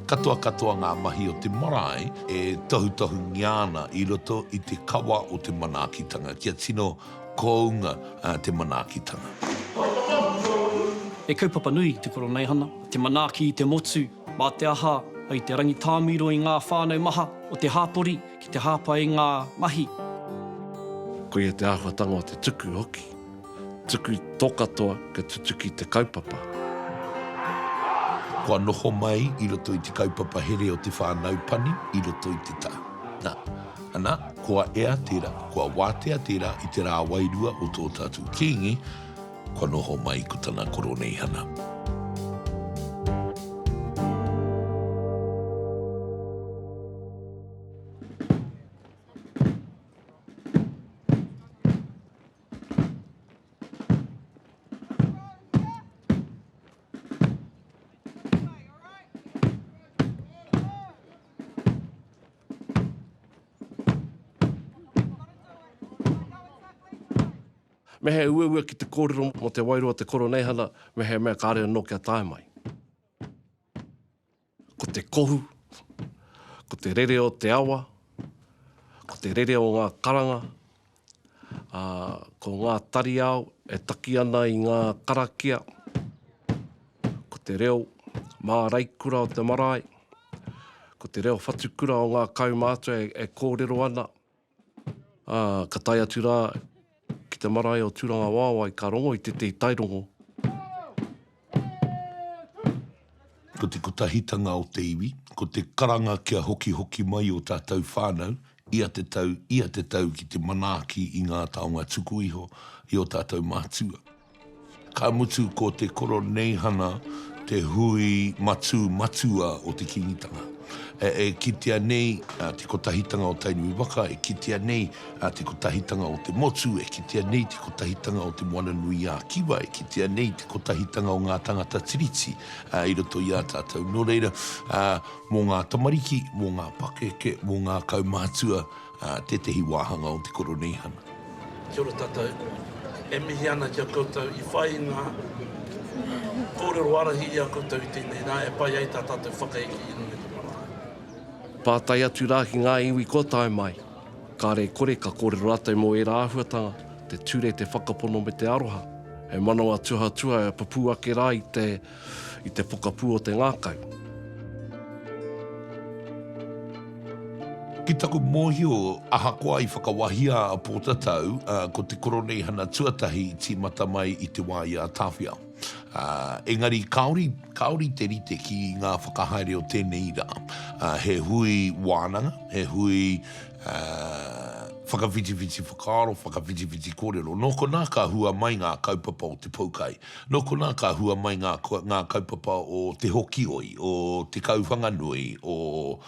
Katoa katoa ngā mahi o te marae e tohutohungia ana i roto i te kawa o te manaakitanga kia tino kounga te manaakitanga. He kaupapa nui te Koroneihana, te manaaki i te motu, mā te aha, hei te rangitāmiro i ngā whānau maha o te hāpori ki te hāpai i ngā mahi. Koia te āhuatanga o te tuku hoki. Tuku tō katoa kia tutuki te kaupapa. Kua noho mai i roto i te kaupapa here o te whānau pani i roto i te taha. Nā, anā, kua ea tērā, kua wātea tērā i te rā wairua o tō tātou Kīngi, kua noho mai ko tana Koroneihana. Me he uaua ki te kōrero mō te wairua o te koroneihana, me he mea kāre anō kia tae mai. Ko te kohu, ko te rere o te awa, ko te rere o ngā karanga, ā, ko ngā tariao e taki ana i ngā karakia, ko te reo māraikura o te marae, ko te reo whatukura o ngā kaumātua e kōrero ana, ā, ka tae atu rā ki te marae o Tūrangawaewae ka rongo i tētehi tairongo. Ko te kotahitanga o te iwi, ko te karanga kia hokihoki mai ō tātou whānau ia te tau, ia te tau ki te manaaki i ngā taonga tuku iho i ō tātou mātua. Ka mutu ko te Koroneihana te hui matū matua o te Kīngitanga. E kitea nei te kotahitanga o Tainui waka, e kitea nei te kotahitanga o te motu, e kitea nei te kotahitanga o Te Moana nui ā Kiwa, e kitea nei te kotahitanga o ngā tangata Tiriti i roto i a tātou. Nō reira, mō ngā tamariki, mō ngā pakeke, mō ngā kaumatua, ā tētehi wāhanga o te Koroneihana. Kia ora tatou. E mihi ana ki a koutou i whai i nga korero arahi i a koutou i tenei ra e pai ai ta tatou whakaeke i runga i te marae. Pātai atu rā ki ngā iwi kua tae mai. Kāre kore ka kōrero rātou mō ērā āhuatanga, te ture, te whakapono me te aroha. He manawa tuhatua e pupū ake rā i te. i te pokapū o te ngākau. Ki taku mōhio, ahakoa i whakawahia a Pōtatau, ko te Koroneihana tuatahi i tīmata mai i te wā i a Tāwhia. Engari kāore, kāore te rite ki ngā whakahaere o tēnei rā. He hui wānanga, he hui whakawhitiwhiti whakaaro, whakawhitiwhiti kōrero. Nō konā ka hua mai ngā kaupapa o te poukai. Nō konā ka hua mai ngā ngā kaupapa o Te Hokioi, o Te Kauwhanganui, o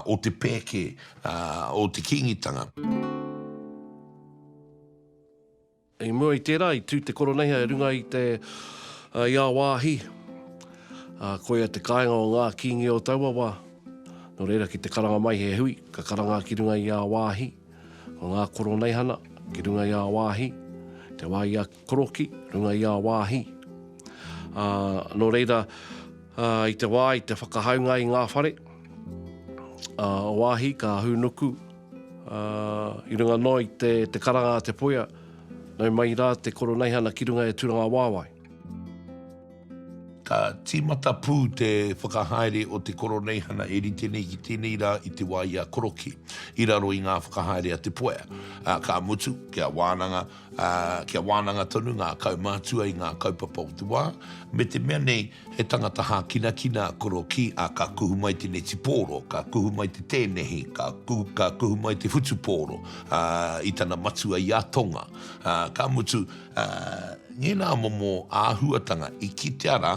o Te Pēke, ā, o Te Kīngitanga. I mua i tērā, i tū te Koroneihau e runga i te, i a wāhi, ā, koia te kāinga o ngā Kīngi o taua wā. Nō reira, ki te karanga mai he hui, ka karanga ki runga i a wāhi, ko ngā Koroneihana, ki runga i a wāhi, te wā i a. Koroki, runga i ā wāhi. Ā, nō reira, ā, i te wā, i te whakahaunga i ngā whare, ā, o wāhi ka hūnuku, ā, i runga noa i te, te karanga a te poia, nau mai rā te Koroneihana ki runga e Turangawaewae. Ka tīmata pū te whakahaere o te Koroneihana e rite nei ki tēnei rā i te wā i a Koroki, i raro i ngā whakahaere a te poia. Ā, ka mutu, kia wānanga, ā, kia wānanga tonu ngā kaumātua i ngā kaupapa o te wā, me te mea nei, he tangata hākinakina a Korokī, ā, ka kuhu mai te neti pōro, ka kuhu mai te tēnehi, ka, ka kuhu mai te whutupōro, ā, i tana matua i a Tonga. Ā, ka mutu, ā, ngēnā momo āhuatanga i kitea rā,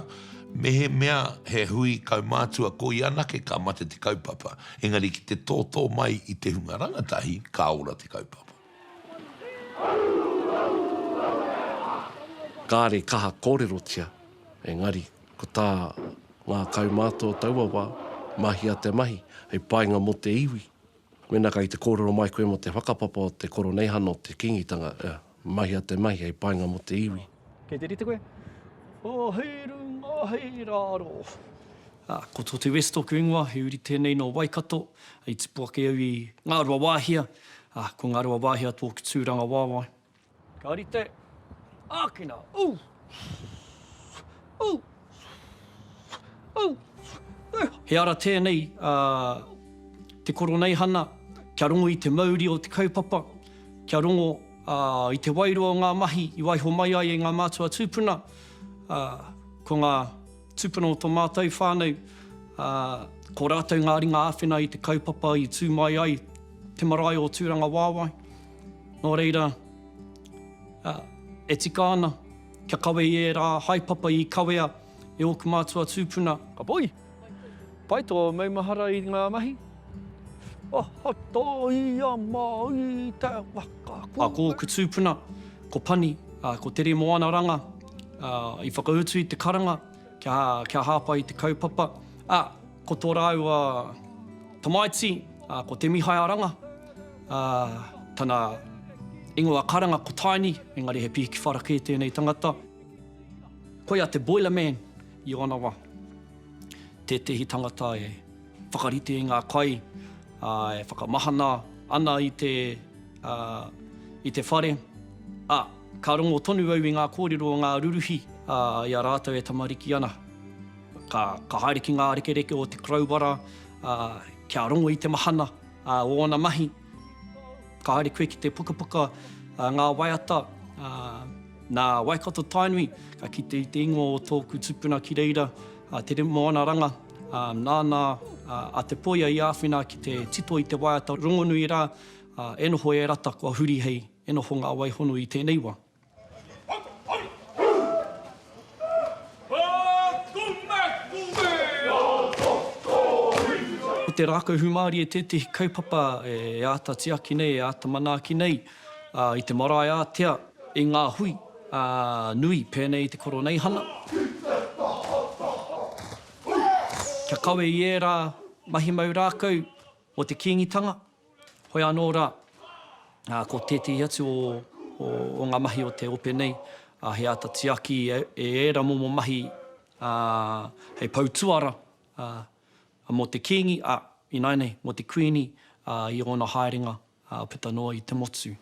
mehemea he hui kaumātua ko ia anake ka mate te kaupapa, engari ki te tōtō mai i te hunga rangatahi, ka ora te kaupapa. Kāre kaha kōrerotia, engari ko tā ngā kaumātua o taua wā, mahia te mahi hei painga mō te iwi. Mēnā kei te kōrero mai koe mō te whakapapa o te koroneihana o te Kīngitanga, mahia te mahi hei painga mō te iwi. Kei te rite koe? Oh, hei runga, hei raro. Ah, ko Tote West toku ingoa, he uri tenei no Waikato. I tipu ake au i Ngarua Wahia. Ah, ko Ngarua Wahia toku turanga wawae. Ka rite, akina, oh! Oh! He ara tēnei a te Koroneihana kia rongo i te mauri o te kaupapa, kia rongo i te wairua o ngā mahi i waiho mai ai e ngā mātua tūpuna, ko ngā tūpuna o tō mātou whānau, ko rātou ngā ringa āwhina i te kaupapa i tū mai ai te marae o Tūrangawaewae. Nō reira, e tika ana. Kia kawe i ērā haepapa i kawea e ōku mātua tūpuna. Ka poi! Pai tō maumahara i ngā mahi. Aha tā ia mā i te waka kua. Ko ōku tūpuna, ko Pani, ko Tere Moana Ranga, i whakautu i te karanga. kia hāpai i te kaupapa. Ā, ko tō rāua tamaiti, ko Te Mihai a Ranga, ā, tana ingoa karanga ko Taini, engari he pihiki whara kē tēnei tangata. Koia te boilerman i ōna wā, tētehi tangata e. Whakarite i ngā kai e whakamahana ana i te, i te whare, ā, ka rongo tonu au i ngā kōrero o ngā ruruhi i a rātou e tamariki ana. Ka, ka haere ki ngā rekereke o te Koroua rā kia rongo i te mahana o ōna mahi. Ka haere koe ki te pukapuka Ngā Waiata nā Waikato Tainui, ka kite i te ingoa o tōku tupuna ki reira, a Tere Moana Ranga. Nāna a Te Poia i āwhina ki te tito i te waiata rongonui rā, e noho e rata kua huri hei e noho ngā waihono i tēnei wā. Ko te rākau hūmārie tētehi kaupapa e āta tiaki nei, e āta manaaki nei i te marae ātea, i ngā hui nui pēnei i te Koroneihana. Kia kawe i ērā mahi mau rākau mō te Kīngitanga, Hoi anō rā, ko tētehi atu o ngā mahi o te ope nei, he āta tiaki e ērā momo mahi hei pou tuara mō te Kīngi, ā, ināianei, mō te Kuini i ōna haerenga puta noa i te motu.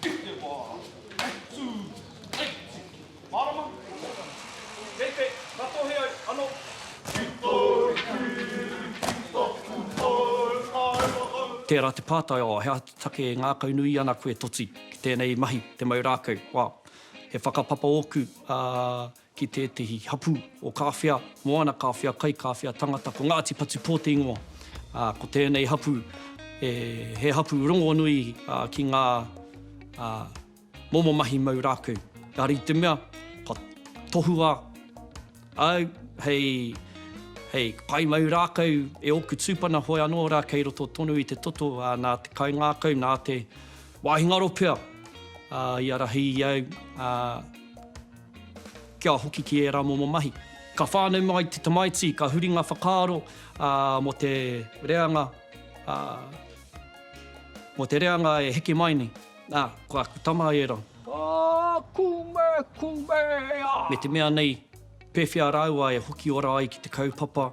I te wā i tū, i tiki. Mārama, kei te ratohe ai anō. Ki tōu tū, ki tōku hau, ae la hau. Tērā te pātai, oh, he aha te take e ngākaunui ana koe, Toti, ki tēnei mahi, te mau rākau? Well, he whakapapa ōku, ā, ki tētehi hapū o Kāwhia, Moana Kāwhia, Kai Kāwhia, Tangata, ko Ngāti Patupō te ingoa. Ā, ko tēnei hapū, e, he hapū rongonui ā, ki ngā ā, momo mahi mau rākau. Engari i te mea, kua tohua au hei, hei pai mau rākau e ōku tūpana hoe anō rā kei roto tonu i te toto, ā, nā te kaingākau, nā te wāhi ngaro pea, ā, i arahi i au, ā, Kia hoki ki ērā momo mahi. Ka whānau mai te tamaiti, ka huri ngā whakaaro mō te reanga, mō te reanga e heke mai nei. Nā, ko aku tama ērā. Aa, kume, kume, ea! Me te mea nei, pēwhea rāua e hoki ora ai ki te kaupapa,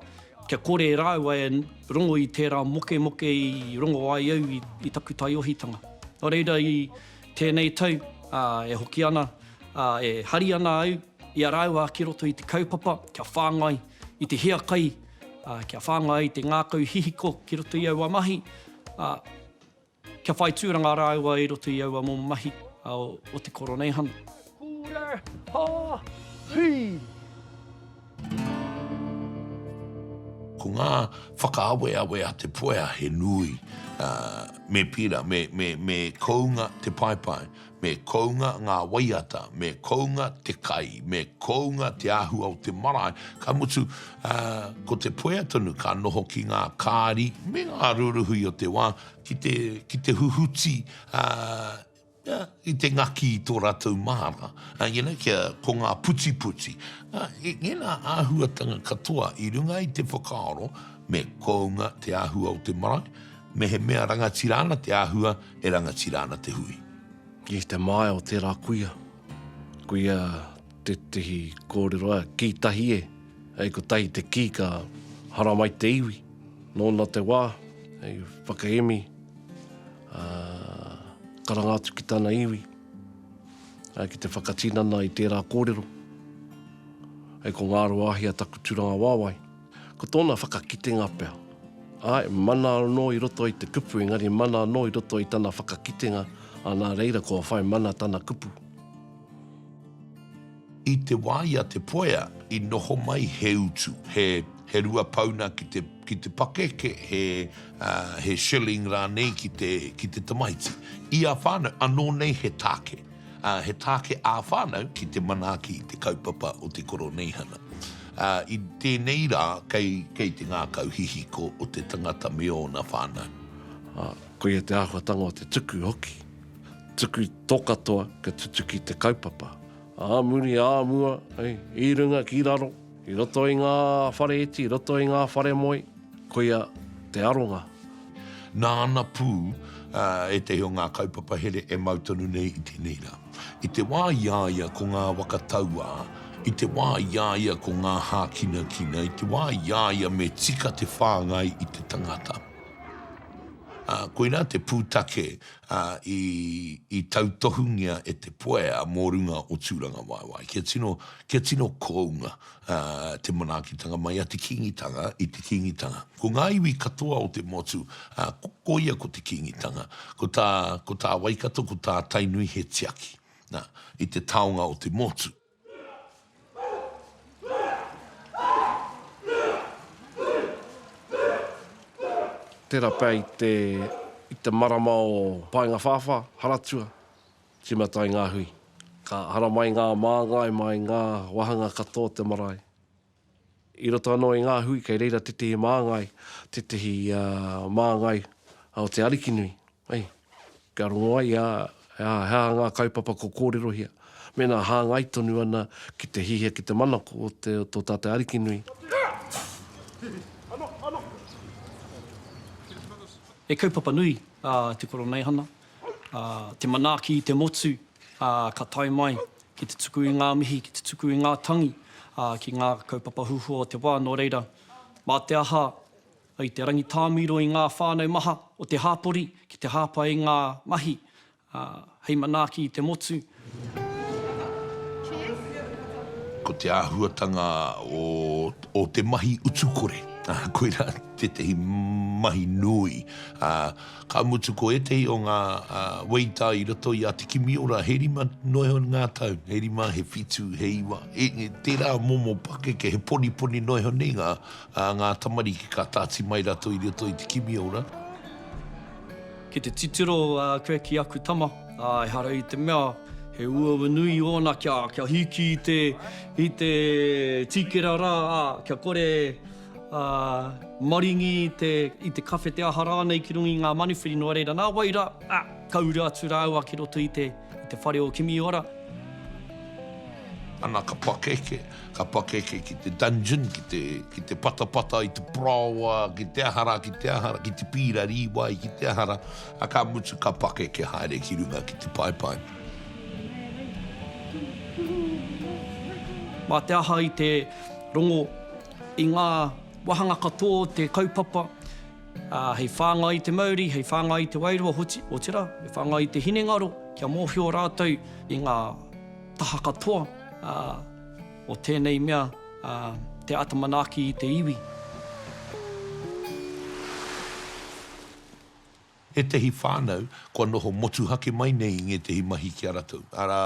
kia kore rāua e rongo i tērā mokemoke i rongo ai au i taku taiohitanga. Nō reira i. Tēnei tau, ā, e hoki ana, ā, e hari ana au i a rāua ki roto i te kaupapa kia whāngai i te hiakai, ā, kia whāngai i te ngākau hihiko ki roto i aua mahi, ā, kia whai tūranga rāua i roto i aua momo mahi, ā, o te koroneihana. Kura! Ha! Hii! Ko ngā whakaaweawe a Te Puea he nui. Me pira, me kounga te paepae, me kounga ngā waiata, me kounga te kai, me kounga te āhua o te marae, ka mutu, ko Te Puea tonu ka noho ki ngā kāri me ngā ruruhi o te wā ki te huhuti I te ngaki i tō rātou māra, you know, kia, ko ngā putiputi. I ngēnā āhuatanga katoa i runga i te whakaaro me kounga te āhua o te marae, mehemea rangatira ana te āhua, e rangatira ana te hui. I te māia o tērā kuia, kuia tētehi kōrero a kī tahi e, hei kotahi te kī ka haramai te iwi. Nōna te wā, hei whakaemi. ā, karanga atu ki tana iwi, ā, ki te whakatinana i tērā kōrero, hei ko Ngāruāhia taku tūranga wāwae, ko tōna whakakitenga pea. Āe, mana anō i roto i te kupu, engari mana anō i roto i tana whakakitenga, ā, nā reira kua whai mana tana kupu. I te wā i a Te Poea i noho mai he utu, he he rua pauna ki te ki te pakeke, he he shilling rānei ki te ki te tamaiti. I a whānau, anō nei he tāke, he tāke ā whānau ki te manaaki i te kaupapa o te Koroneihana. I tēnei rā kei kei te ngākau hihiko o te tangata me ōna whānau. Koia te āhuatanga o te tuku hoki. Tuku tō katoa kia tutuki te kaupapa. Ā muri, ā mua, i runga ki raro, i roto i ngā whare iti, i roto i ngā whare moe, koia te aronga. Nāna pū ētahi o ngā kaupapa here e mau tonu nei i tēnei rā. I te wā i a ia ko ngā waka tauā, i te wā i a ia ko ngā hākinakina, i te wā i a ia me tika te whāngai i te tangata. Ā, koirā te pūtake ā, i tautohungia e te poea mō runga o Tūrangawaewae. Kia tino, kia tino kounga te manaakitanga mai a te Kīngitanga i te Kīngitanga. Ko ngā iwi katoa o te motu, ā, ko ia ko te Kīngitanga. Ko tā, ko tā Waikato, ko tā Tainui he tiaki, nā, i te taonga o te motu. Tērā pea i te, i te marama o Paengawhāwhā, Haratua, tīmata ai ngā hui. Ka haramai ngā māngai mai ngā wāhanga katoa o te marae. I roto anō i ngā hui kei reira tētehi māngai, tētehi māngai o te Arikinui, kia rongo ai he aha ngā kaupapa kua kōrerohia, mēnā hāngai tonu ana ki te hiahia ki te manako o tō tātou Arikinui. He kaupapa nui a Te Koroneihana te manaaki i te motu, ka tae mai ki te tuku i ngā mihi, ki te tuku i ngā tangi, ki ngā kaupapa huhua o te wā, nō reira, mā te aha i te rangitāmiro i ngā whānau maha o te hāpori ki te hāpai i ngā mahi hei manaaki i te motu, Ko te āhuatanga o te mahi utukore, koirā tētehi mahi nui. Ka mutu ko ētehi o ngā weita i roto i a Te Kimiora, he rima noa iho ngā tau, he rima, he whitu, he iwa, tērā momo pakeke, he poniponi noa iho nei ngā tamariki ka tāti mai rātou i roto i Te Kimiora. Ki te titiro koe ki aku tama, ā, ehara i te mea he uaua nui ōna kia, kia hiki i te, i te tīkera rā, ā, kia kore, ā, maringi i te, i te kawhe, te aha rānei ki runga i ngā manuwhiri, nō reira, nā wai rā, ā, ka uru atu rāua ki roto i te. I te whare o Kimiora. Ana ka pakeke, ka pakeke ki te dungeon, ki te, ki te patapata i te paraoa, ki te aha rā, ki te aha rā, ki te pīra rīwai, ki te aha rā, a ka mutu ka pakeke haere ki runga ki te paepae. Mā te aha i te rongo i ngā wāhanga katoa o te kaupapa, Ā, hei whāngai i te mauri, hei whāngai i te wairua hoki, otirā, hei whāngai i te hinengaro, kia mōhio rātou i ngā taha katoa o tēnei mea, te āta manaaki i te iwi. Ētehi whānau kua noho motuhake mai nei i ngētehi mahi ki a rātou, arā,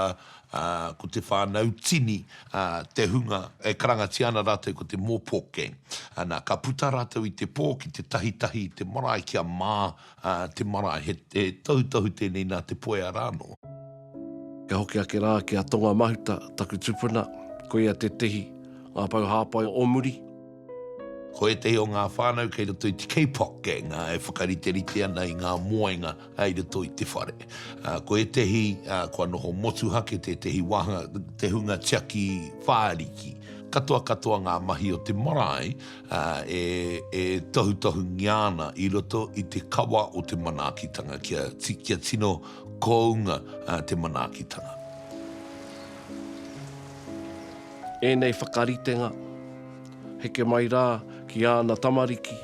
ā, ko te whānau tini, ā, te hunga e karangatia ana rātou ko te Mōpō Gang. Ā, nā, ka puta rātou i te pō ki te tahitahi i te marae kia mā, ā, te marae. He, he tohutohu tēnei nā Te Poea rā anō. Kia hoki ake rā ki a Tonga Mahuta, taku tupuna, koia tētehi, ngā pou hāpai o muri. Ko ētehi o ngā whānau kei roto i te Kapok gang e whakariterite ana i ngā moenga i roto i te whare. Ko ētehi kua noho motuhake tētehi wāhanga te hunga tiaki whāriki. Katoa katoa ngā mahi o te marae e tohutohungia ana i roto i te kawa o te manaakitanga kia tino kounga te manaakitanga. Ēnei whakaritenga. Heke mai rā ki āna tamariki,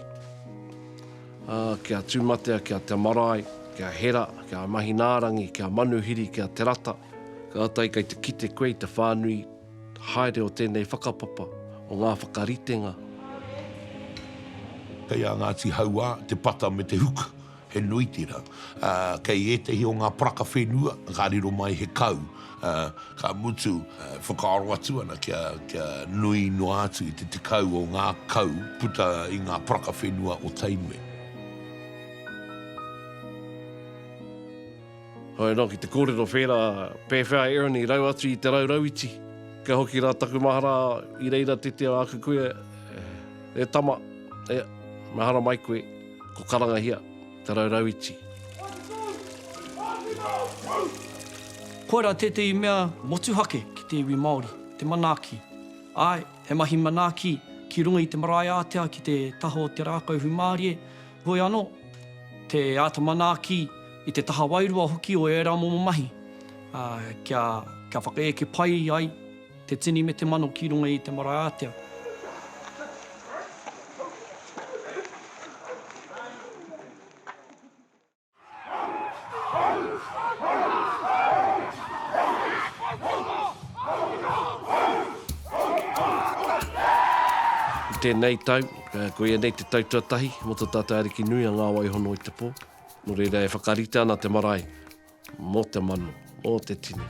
ā, ki a Tūmatea, ki a Te Marae, ki a Hera, ki a Mahinaarangi, ki a Manuhiri, ki a Te Rata. Kātahi kei te kite koe i te whānui haere o tēnei whakapapa, o ngā whakaritenga. Kei a Ngāti Hauā te pata me te huka. He nui tērā. Kei ētehi o ngā paraka whenua ka riro mai he kau, ka mutu e whakaaro atu ana kia nui noa atu i te tekau o ngā kau puta i ngā paraka whenua o Tainui. Haere noa ki te kōrero whērā, pēwhea a Erin i rau atu i te rau rauiti? Ka hoki rā taku mahara i reira te te o aku kuia, E tama, e, mahara mai koe. Ko Karangahia, Te Raurauiti. Koirā tētehi mea motuhake ki te iwi Māori, te manaaki. Āe, he mahi manaaki ki runga i te marae ātea ki te taha o te rākau hūmārie, heoi anō, te āta manaaki i te taha wairua hoki o ērā momo mahi, ā, kia, kia whakaeke pai ai. Te tini me te mano ki runga i te mara ātea. I tēnei tau, koia nei te tau tuatahi mō tō tātou Ariki nui a Ngāwai Hono i te pō. Nō reira e whakarite ana te marae Mō te manu, mō te tini.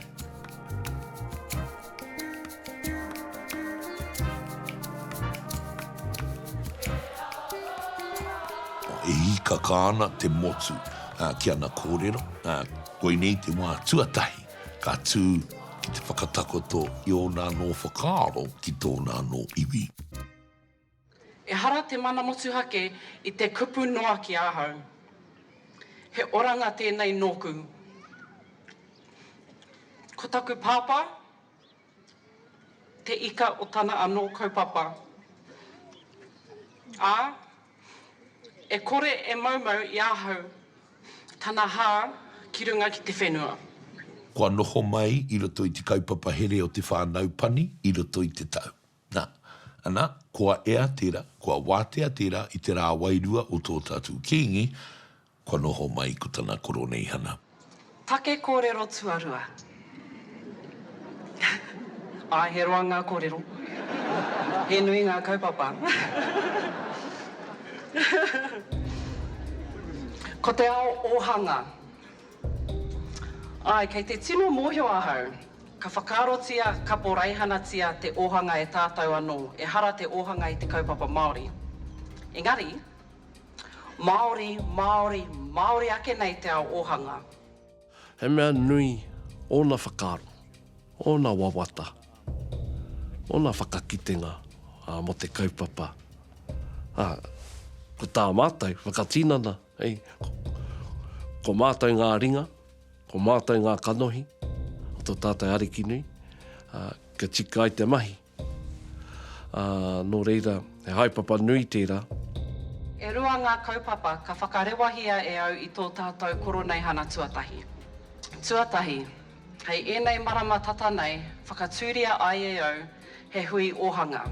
E hīkaka ana te motu ki ana kōrero. Koinei te wā tuatahi ka tū ki te whakatakoto i ōna anō whakaaro ki tōna anō iwi. Ehara te mana motuhake i te kupu noa ki ahau. He oranga tēnei nōku. Ko taku pāpā, te ika o tana anō kaupapa. Ā, e kore e maumau i ahau tana hā ki runga ki te whenua. Kua noho mai i roto i te kaupapa here o te whānau pani i roto i te tau. Na, ana, kua ea tera, kua watea tera i te ra wairua o to tatu kingi, kua noho mai ko tana koroneihana. Take kōrero tuarua. Āe, he roa ngā kōrero. He nui ngā kaupapa. Ko te ao ōhanga. Āe, kei te tino mōhio ahau. Ka whakaarotia, ka pōraihanatia te ōhanga e tātou anō, ehara te ōhanga i te kaupapa Māori. Engari, Māori, Māori, Māori ake nei te ao ōhanga. He mea nui ōna whakaaro, ōna wawata, ōna whakakitenga mō te kaupapa, ā, ko tā mātou whakatinana, Hei, ko mātou ngā ringa, ko mātou ngā kanohi o tō tātou Ariki nui, ā, kia tika ai te mahi. Ā, nō reira, he haepapa nui tērā. E rua ngā kaupapa ka whakarewahia e au i tō tātou Koroneihana tuatahi. Tuatahi, hei ēnei marama tata nei whakatūria ai e au he hui ōhanga,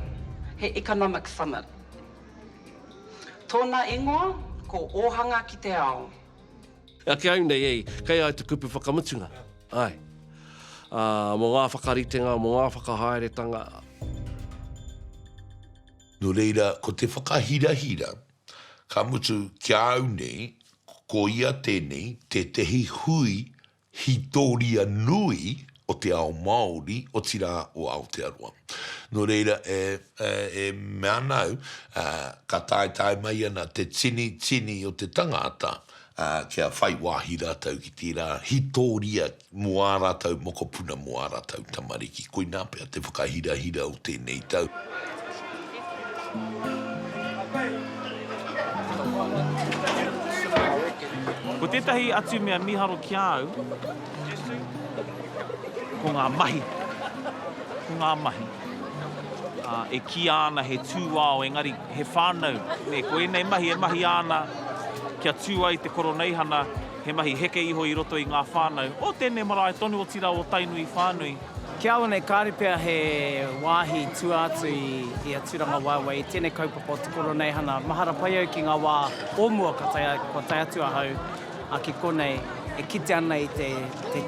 he Economic Summit. Tōna ingoa ko Ōhanga ki te Ao. Ake au nei ei, kei ai te kupu whakamutunga, ae. Ā, mō ngā whakaritenga, mō ngā whakahaeretanga. Nō reira, ko te whakahirahira, ka mutu, ki a au nei, ko ia tēnei, tētehi hui hītoria nui o te ao Māori, otirā o Aotearoa. Nō reira, e mea ana au, ka taetae mai ana te tini, tini o te tangāta kia whai wāhi rātou ki tērā hītoria mō ā rātou mokopuna, mō ā rātou tamariki. Koinā pea te whakahirahira o tēnei tau. Ko tētahi atu mea miharo ki a au, ko ngā mahi, ko ngā mahi. E kīa ana he tūao engari he whānau, nē, ko ēnei mahi e mahia ana kia tū ai te Koroneihana, he mahi heke iho i roto i ngā whānau o tēnei marae tonu, otirā o Tainui whānui. Ki a konei, kāore pea he wāhi tua atu i a Tūrangawaewae i tēnei kaupapa o te Koroneihana. Mahara pai au ki ngā wā o mua kua tae atu ahau ki konei e kite ana i te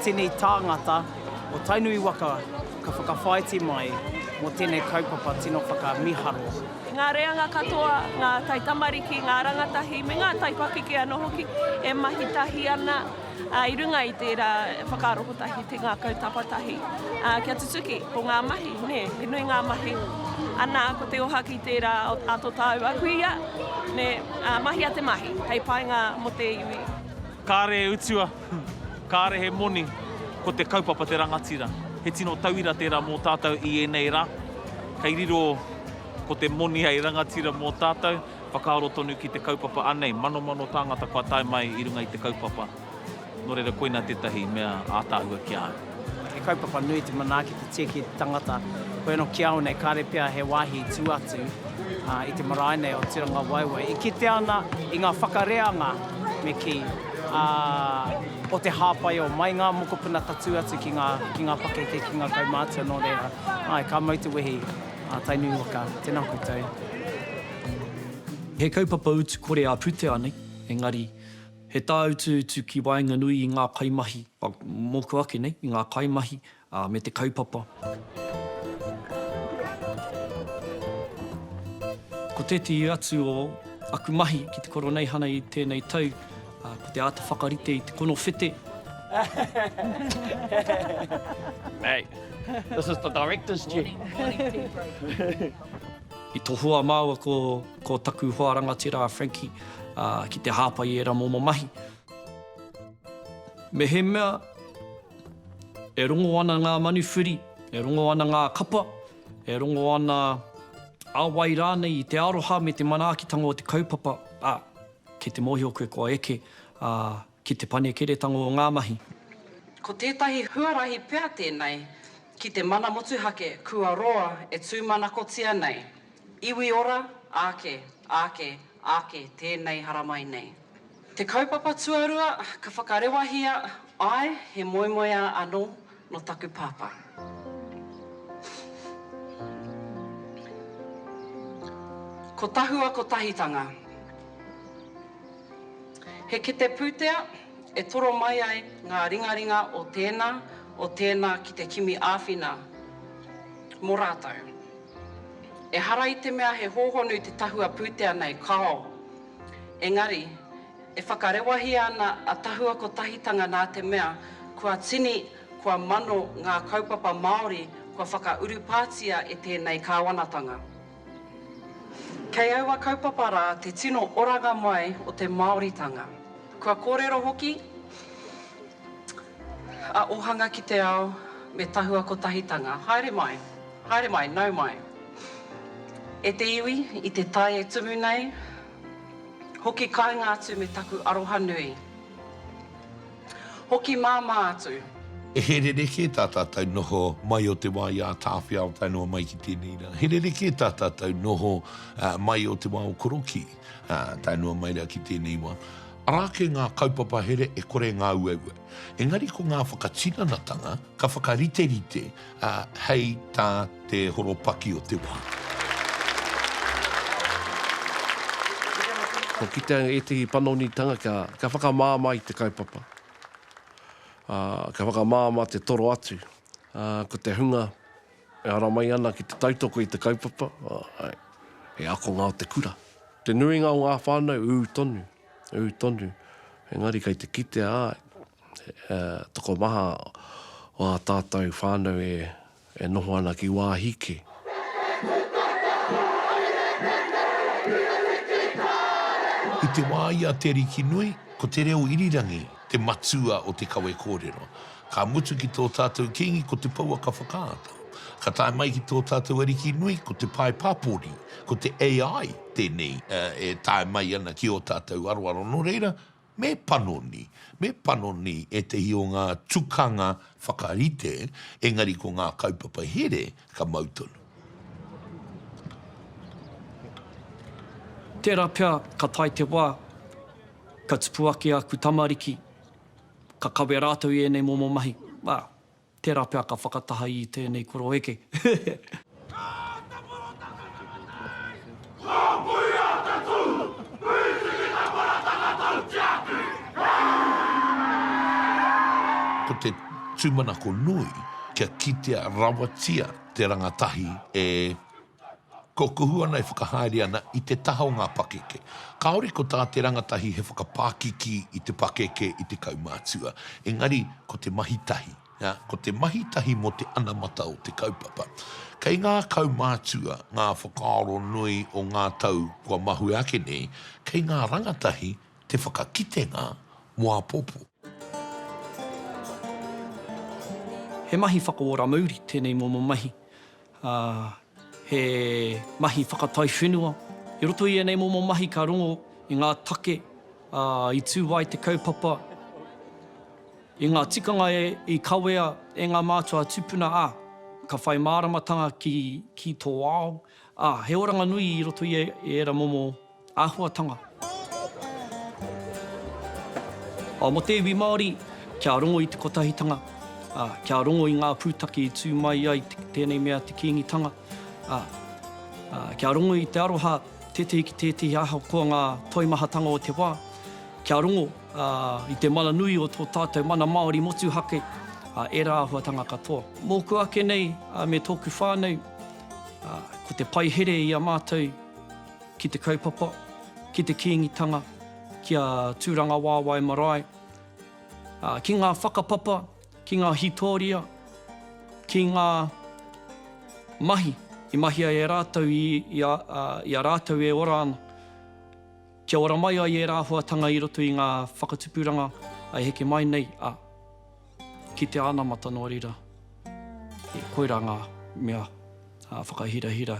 tini tāngata o Tainui waka ka whakawhāiti mai mō tēnei kaupapa tino whakamiharo. Ngā reanga katoa, ngā taitamariki, ngā rangatahi me ngā taipakeke anō hoki e mahi tahi ana. i runga i tērā whakaaro kotahi, te ngākau tapatahi, kia tutuki ko ngā mahi, nē, he nui ngā mahi. Ana, ko te oha ki tērā a tō tāua kuia, nē, mahia te mahi hei painga mō te iwi. Kāre e utua, kāre he moni, ko te kaupapa te rangatira. He tino tauira tērā mō tātou i ēnei rā. Kei riro ko te moni hei rangatira mō tātou. Whakaaro tonu ki te kaupapa anei manomano tāngata kua tae mai i runga i te kaupapa, nō reira koina tētahi mea ātaahua ki a au. He kaupapa nui te manaaki te tia ki te tangata. Hoi anō ki a au nei kāre pea he wāhi tū atu i te marae nei o Turangawaewae i kitea ana i ngā whakareanga me kī, ā, o te hāpaiō mai ngā mokopuna tatū atu ki ngā pakeke, ki ngā kaumātua nō reira, āe, ka mau te wehi. A Tainui waka, tena koutou. He kaupapa utu kore a Putea nei, engari he tāutu utu ki waenganui i ngā kaimahi, mōku ake nei, i ngā kaimahi me te kaupapa. Ko tētehi atu o aku mahi ki te Koroneihana i tēnei tau, Ā, ko te āta whakarite i te konowhete. Mate, this is the director's chair. I tohua māua ko, ko taku hoa rangatira a Frankie, ā, ki te hāpai i ērā momo mahi. Mehemea e rongo ana ngā manuwhiri, e rongo ana ngā kapa, e rongo ana a wai rānei i te aroha me te manaakitanga o te kaupapa, ā, Kei te mōhio koe kua eke, ā, ki te panekeretanga o ngā mahi. Ko tētahi huarahi pea tēnei ki te mana motuhake kua roa e tūmanakotia nei, iwi ora, āke, āke, āke tēnei haramai nei. Te kaupapa tuarua ka whakarewahia, āe, he moemoeā anō, Nō taku pāpā. Ko Tahua Kotahitanga. He kete pūtea e toro mai ai ngā ringaringa o tēnā, o tēnā ki te kimi āwhina mō rātou. Ehara i te mea he hōhonu te tahua pūtea nei, kāo. Engari, E whakarewahia ana a Tahua Kotahitanga nā te mea kua tini, kua mano ngā kaupapa Māori kua whakaurupātia e tēnei kāwanatanga. Kei aua kaupapa rā te tino oranga mai o te Māoritanga. Kua kōrero hoki a Ohanga ki te Ao me Tahua Kotahitanga, Haere mai, haere mai, nau mai e te iwi i te tai e tumu nei, Hoki kainga atu me taku aroha nui. Hoki māmā atu. E he rerekē tā tātou noho mai o te wā i ātaawhia Aotearoa mai ki tēnei rā. He rerekē tā tātou noho mai o te wā o Korokī tae noa mai rā ki tēnei wā. Arā ake ngā kaupapa here e kore ngā uaua. Engari ko ngā whakatinanatanga ka whakariterite ā, hei tā te horopaki o te wā. Kua kitea ētehi panonitanga kia whakamāmā i te kaupapa, ā, kia whakamāmā te toro atu, ā, ko te hunga e ara mai ana ki te tautoko i te kaupapa, ā, he akonga o te kura. Te nuinga o ngā whānau, ū tonu, ū tonu, engari kei te kitea, ā, he tokomaha o ā tātou whānau e noho ana ki wāhi kē. I te wā i a Te Arikinui, ko te reo irirangi te matua o te kawe kōrero. Ka mutu ki tō tātou Kīngi ko te pouaka whakaata. Ka tae mai ki tō tātou Ariki nui ko te pae pāpori, ko te AI tēnei e tae mai ana ki ō tātou aroaro. Nō reira, Me panoni, me panoni ētehi o ngā tukanga whakarite, engari ko ngā kaupapa here ka mau tonu. Tērā pea ka tae te wā, ka tupu ake aku tamariki, ka kawe rātou i ēnei momo mahi, ā. Tērā pea ka whakataha i tēnei koroeke. Ka āta porotaka tangata nei! Ko Pui ata tu! Pui tiki ta porotaka tau tiaki! Ko te tumanako nui kia kitea rawatia te rangatahi e. Kua kuhu ana e whakahaere ana i te taha o ngā pakeke. Kāore ko tā te rangatahi he whakapākiki i te pakeke, i te kaumātua. Engari, ko te mahi tahi, ko te mahi tahi mō te anamata o te kaupapa. Kei ngā kaumātua ngā whakaaro nui o ngā tau kua mahue ake nei, kei ngā rangatahi te whakakitenga mō āpōpō. He mahi whakaora mauri tēnei momo mahi. ā, he mahi whakataiwhenua. I roto i ēnei momo mahi ka rongo i ngā take, ā, i tū ai te kaupapa, i ngā tikanga i kawea e ngā mātua tupuna, ā, ka whai māramatanga ki tō ao, ā, he oranga nui i roto i ērā momo. Āhuatanga. Ā, mō te iwi Māori, kia rongo i te kotahitanga, ā, kia rongo i ngā pūtake i tū mai ai tēnei mea te Kīngitanga, ā, ā, kia rongo i te aroha tētehi ki tētehi ahakoa ngā toimahatanga o te wā, kia rongo, ā, i te mana nui o tō tātou mana Māori motuhake, ā, ērā āhuatanga katoa. Mōku ake nei, ā, me tōku whānau, ā, ko te pai here i a mātou, ki te kaupapa, ki te Kīngitanga, ki a Tūrangawaewae marae, ā, ki ngā whakapapa, ki ngā hītōria, ki ngā mahi i mahi ai e rātou i, i a, ā, i a rātou e ora ana, kia ora mai ai ērā āhuatanga i roto i ngā whakatupuranga e heke mai nei, ā, ki te anamata nō reira, e, koirā ngā mea, ā, whakahirahira.